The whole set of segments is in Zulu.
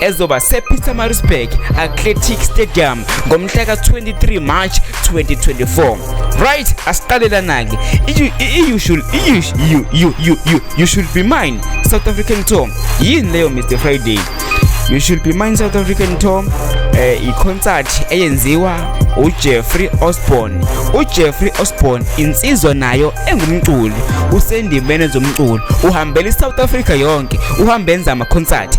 ezoba sePietermaritzburg Athletic Stadium ngomhla ka-23 March 2024 right asiqalelanake you should you, you, you, you, you, you should be mine South African Tom yini leyo Mr Friday you should be mine South African Tom eh iconcert eyenziwa uJeffrey Osborne uJeffrey Osborne insizwa nayo engumculi usendimene zomculo uhambela iSouth Africa yonke uhambe enza ama concert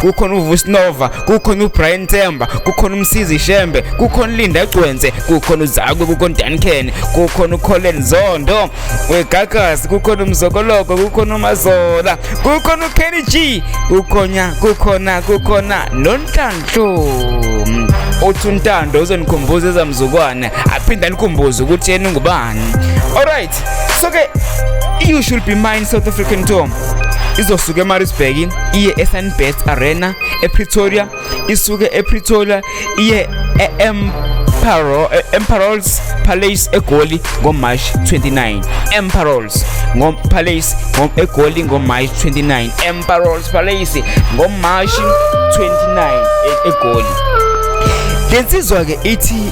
kukhona uvusnova kukhona ubrian temba kukhona umsizi shembe kukhona ulinda gcwense kukhona uzakwe kukhona udanken kukhona ucolen zondo wegagasi kukhona umzokoloko kukhona umazola kukhona ukenny g kukhona kukhona kukhona nonhlanhlu uthi untando uzonikhumbuza ezamzukwane aphinde anikhumbuze ukuthi yena ungubani alright so ke you should be mine south african tom izosuka emarisburg iye esunbest arena epretoria isuke epretoria iye em Emperor, eh, Emperor's Palace eGoli ngoMarch 29 Emperor's ngoPalace eGoli ngoMarch 29 Emperor's Palace ngoMarch 29 eGoli lensizwa ke ithi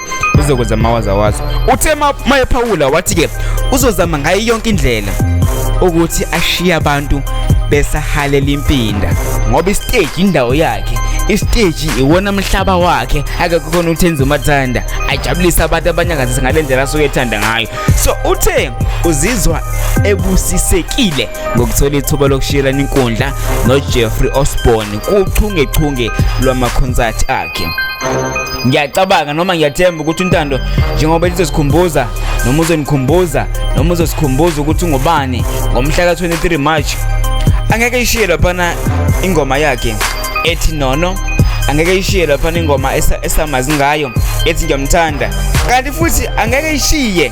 uzokwenza mawazawaza uthe mayephawula wathi-ke uzozama ngayo yonke indlela ukuthi ashiye abantu besahalela impinda ngoba isiteji indawo yakhe isiteji iwona mhlaba wakhe akakukhona ukuthi enze umathanda ajabulise abantu abanyakazisa ngale ndlela asuke ethanda ngayo so uthe uzizwa ebusisekile ngokuthola ithuba lokushiyelana inkundla nojeffrey osborne kuchungechunge lwamakhonsathi akhe ngiyacabanga noma ngiyathemba ukuthi untando njengoba lizosikhumbuza noma uzonikhumbuza noma uzosikhumbuza ukuthi ungubani ngomhla ka-23 march angeke ishiye laphana ingoma yakhe ethi nono angeke ishiye laphana ingoma esamazi ngayo ethi ngiyamthanda kanti futhi angeke ishiye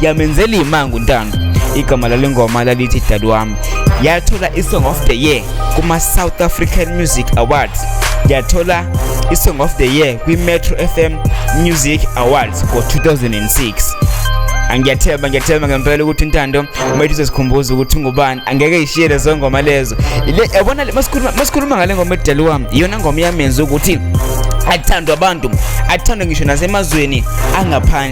yamenzela imanga untando igama lale ngoma lalithi dad wami yathola i-song of the year kuma-south african music awards yathola i-song of the year kwi-metro fm music awards ngo-2006 angiyathemba ngiyathemba ngempela ukuthi intando uma ithi uzosikhumbuza ukuthi ungubani angeke ishiye lezo ngoma lezo yabona masikhuluma ngale ngoma edali wami iyona ngoma yamenza ukuthi athandwe abantu athandwe ngisho nasemazweni angaphandle